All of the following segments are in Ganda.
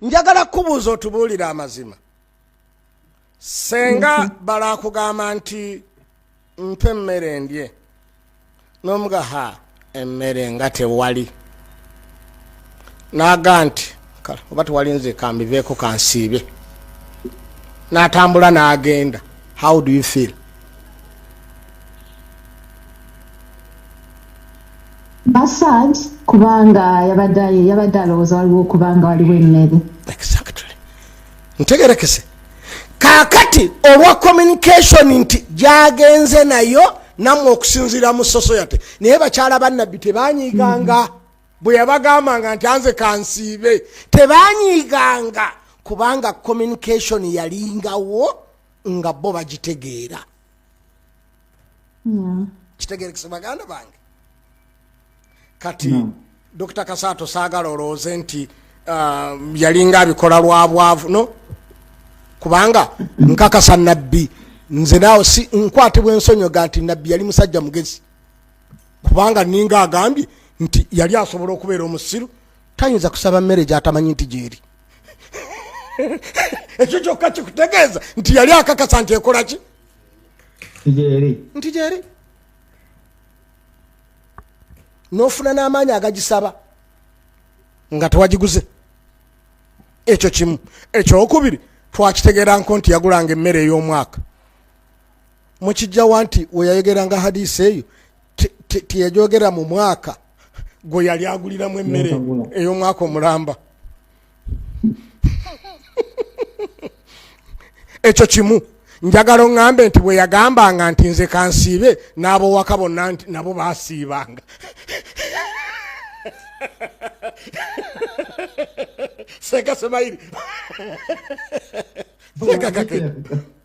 njagala kubuuza otubuulire amazima senga bala akugamba nti mpa emmere ndye n'omuga ha emmere nga tewali n'aga nti kala oba tewali nze kambiveeko kansiibe n'atambula n'agenda how do you feel mba sad kubanga yabadde yabadde alowooza waliwo okubanga waliwo emmere exactly ntegerekese kaakati olwa communication nti gyagenze nayo nammwe okusinziira mu soso yate naye bakyala bannabbi tebanyiiganga mm -hmm. bwe yabagambanga nti anze kansiibe tebanyiiganga kubanga communication yalingawo nga bo bagitegeera mm. kitegerekese baganda bange kati mm. dr kasaato saagala olowooze nti uh, yalinga abikola lwa bwavu no kubanga nkakasa nabbi nze naawe si nkwatibwa ensonyoga nti nabbi yali musajja mugezi kubanga ninga agambye nti yali asobola okubeera omusiru tayinza kusaba mmere gyatamanyi nti gyeri ekyo kyokka kikutegeeza nti yali akakasa nti ekola ki nti gyeri n'ofuna n'amaanyi agagisaba nga tewagiguze ekyo kimu ekyokubiri twakitegeeranko nti yagulanga emmere ey'omwaka mukijjawa nti weyayogeranga hadisi eyo teyajogera mu mwaka gwe yali aguliramu emmere ey'omwaka omulamba ekyo kimu njagala oŋŋambe nti bwe yagambanga nti nze kansiibe n'abowaka bonna nti nabo baasiibanga seka semayiri seka kakee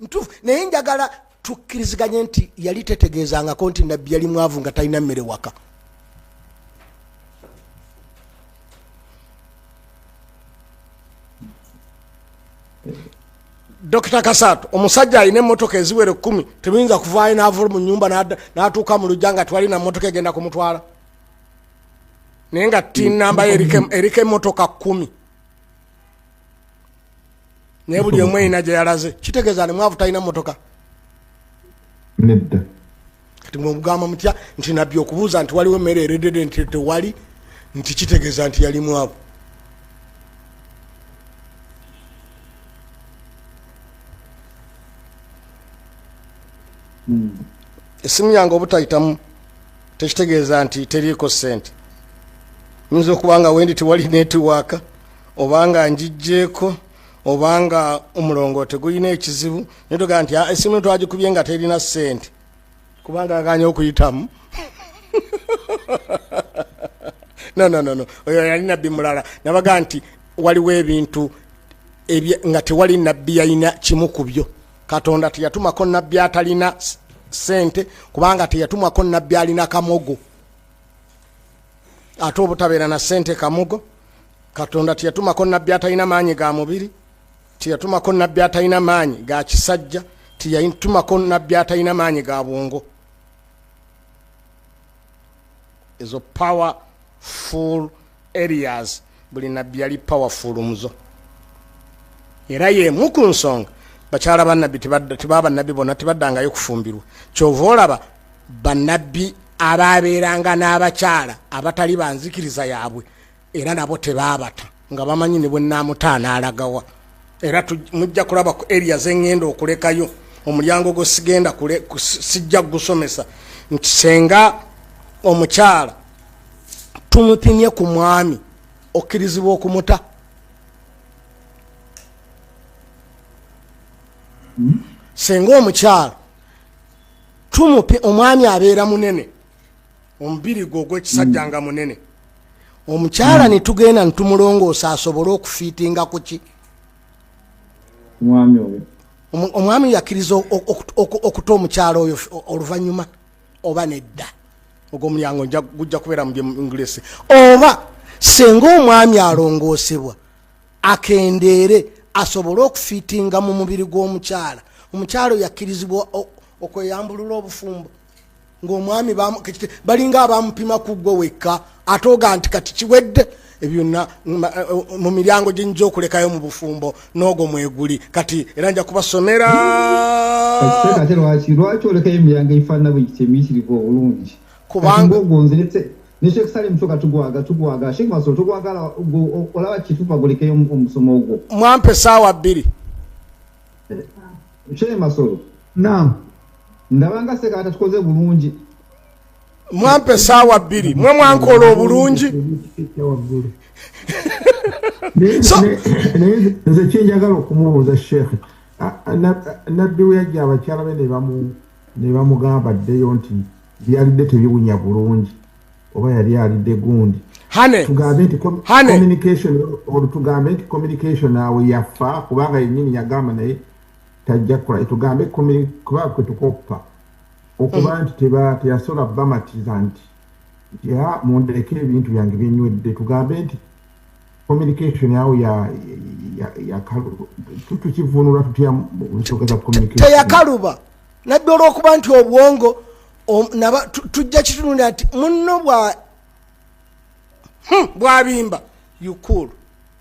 ntufu naye njagala tukkiriziganye nti yali tetegeezangako nti nabbi yali mwavu nga talina mmere waka dokita kasaato omusajja alina emotoka eziwere kumi tebiyinza kuvaayo nava mu nyumba natuuka mu lujja nga twalina motoka egenda kumutwala naye nga tinambayo eriko emotoka kumi naye buli omu erina gye yalaze kitegeeza ni mwavu talina motoka nedda kati mwemugamba mutya nti nabbi okubuuza nti waliwo emmere eredede nti tewali nti kitegeeza nti yali mwavu hmm. esimu yange obutayitamu tekitegeeza nti teriiko sente nyinza okuba nga wendi tewali netiwaaka obanga njijjeeko obanga omulongo tegulina ekizibu netoga nti ah, esimu twagikubye nga terina sente kubanga aganye okuyitamu nononono oyo yali nabbi mulala nabaga nti waliwo ebintu nga tewali nabbi yalina kimu ku byo katonda teyatumako nabbi atalina sente kubanga teyatumako nabbi alina kamogo ate obutabeera na sente kamugo katonda teyatumako nabbi atalina maanyi ga mubiri teyatumako nabbi atalina maanyi ga kisajja teyatumako nabbi atalina maanyi ga bwongo ezo power full areas buli nabbi yali powerful muzo era yemu ku nsonga bakyala banabbi tebaa banabbi bona tebaddangayo kufumbirwa kyova olaba banabbi abaabeeranga n'abakyala abatali banzikiriza yaabwe era nabo tebaabata nga bamanyi ne bwennaamutaana alagawa era mujja kulaba ku eria zengenda okulekayo omulyango gwo sigenda sijja kugusomesa nti senga omukyala tumupimye ku mwami okkirizibwa okumuta singa omukyalo tumupi omwami abeera munene omubiri gwe ogwekisajja nga munene omukyala hmm. netugenda nitumulongoosa asobole okufiitinga kuki omwami yakiriza okuta omukyalo oyo oluvanyuma oba nedda ogwo omulyango gujja kubeera mu english oba senga omwami alongoosebwa akendeere asobole okufitinga mu mubiri gw'omukyala omukyala oyo akkirizibwa okweyambulula obufumbo ng'omwami balinga abamupima ku ggwe wekka atooga nti kati kiwedde ebyonna mu miryango gye nja okulekayo mu bufumbo n'ogwo mweguli kati era nja kubasomera ate lwaki lwaki olekayo emiryango egifaanana bwe giti emiyitirivu obulungi kubanga ogwo nziretse ne sheikh salim kyoka tugwaga tugwaga sheikh masolo tugwagala olaba kitupa gulekeyo omusomo ogwo mwampe saawa bbiri eh, sheikh masolo naam ndabanga sekaata tukoze bulungi mwampa esaawa bbiri mwe mwankola obulungi naye nze kyenjagala okumubuuza sheekhe nabbi we yajja abakyala be nebamugamba ddeyo nti byalidde tebiwunya bulungi oba yali alidde gundi tugambe nti communication olutugambe nti communication awo yafa kubanga yenyini yagamba naye tajja kukola tugambe kuba kwetukoppa okuba mm. nti teyasobola bamatiza nti ya mundeke ebintu byange byenywedde tugambe nti communication awo tutukivunula tutya nsonga za communication teyakaluba nabbi olwokuba nti obwongo tujja kitunulira nti munno bwa hmm, bwabimba yukulu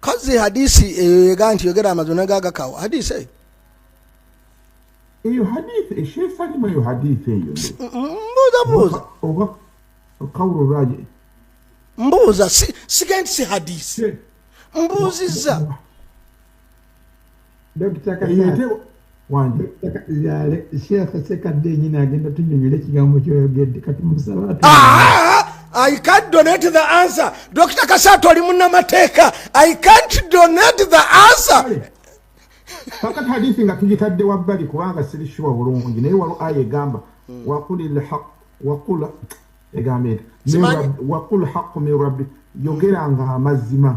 kazi hadisi eyo eh, yega nti yogera amazima naga agakawo hadisi eyo eyo hadisi ekyesalimu eyo hadisi eyo mbuuza buuza oba kawulo lwaje mbuuza sigendi si hadisi mbuuzizza dokita kayete wange yale sheikh sekadde nyina agenda tunyonyole kigambo kyoyogedde kati musaba ah, ah, ah, i can't donate the answer dokita kasato ali munamateeka i can't donate the answer kakati hadithi nga tugitadde wabbali kubanga siri shuwa bulungi naye walo aya egamba hmm. wakuli lhaq wakula egamba eti wakul haqu min rabbi yogeranga amazima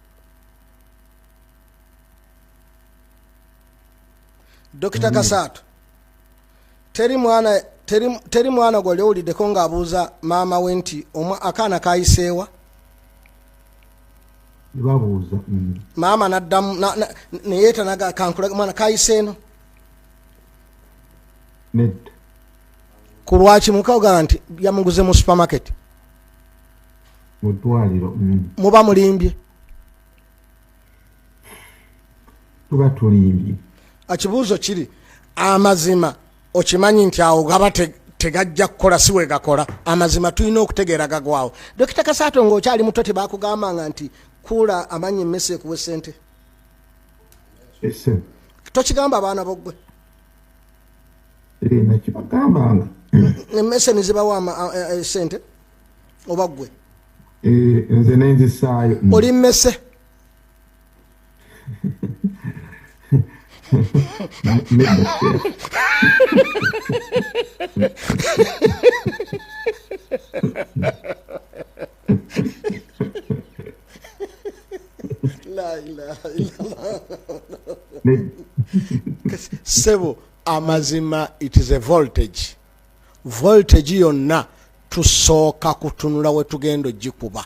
dokita kasaato teri mwana teri mwana gwali owuliddeko ng'abuuza maama we nti akaana kayiseewa babuuza mm. maama naddamu neyetanaga kankulaga mwana kayise eno ku lwaki mukagamba nti yamuguze mu supermarket mudwaliro mm. muba mulimbye tuba tulimbye ekibuuzo kiri amazima okimanyi nti awo gaba tegajja kukola si wegakola amazima tulina okutegeera gagwawo dokita kasaato ngaokyali muto tebakugambanga nti kuula amanyi emmese ekuwe sente tokigamba abaana bogwe emmese nizibawa e, e, sente oba gwe eh, nze nenzisaayo mm. oli mmese sebo amazima it is a voltage voltage yonna tusooka kutunula wetugenda ogikuba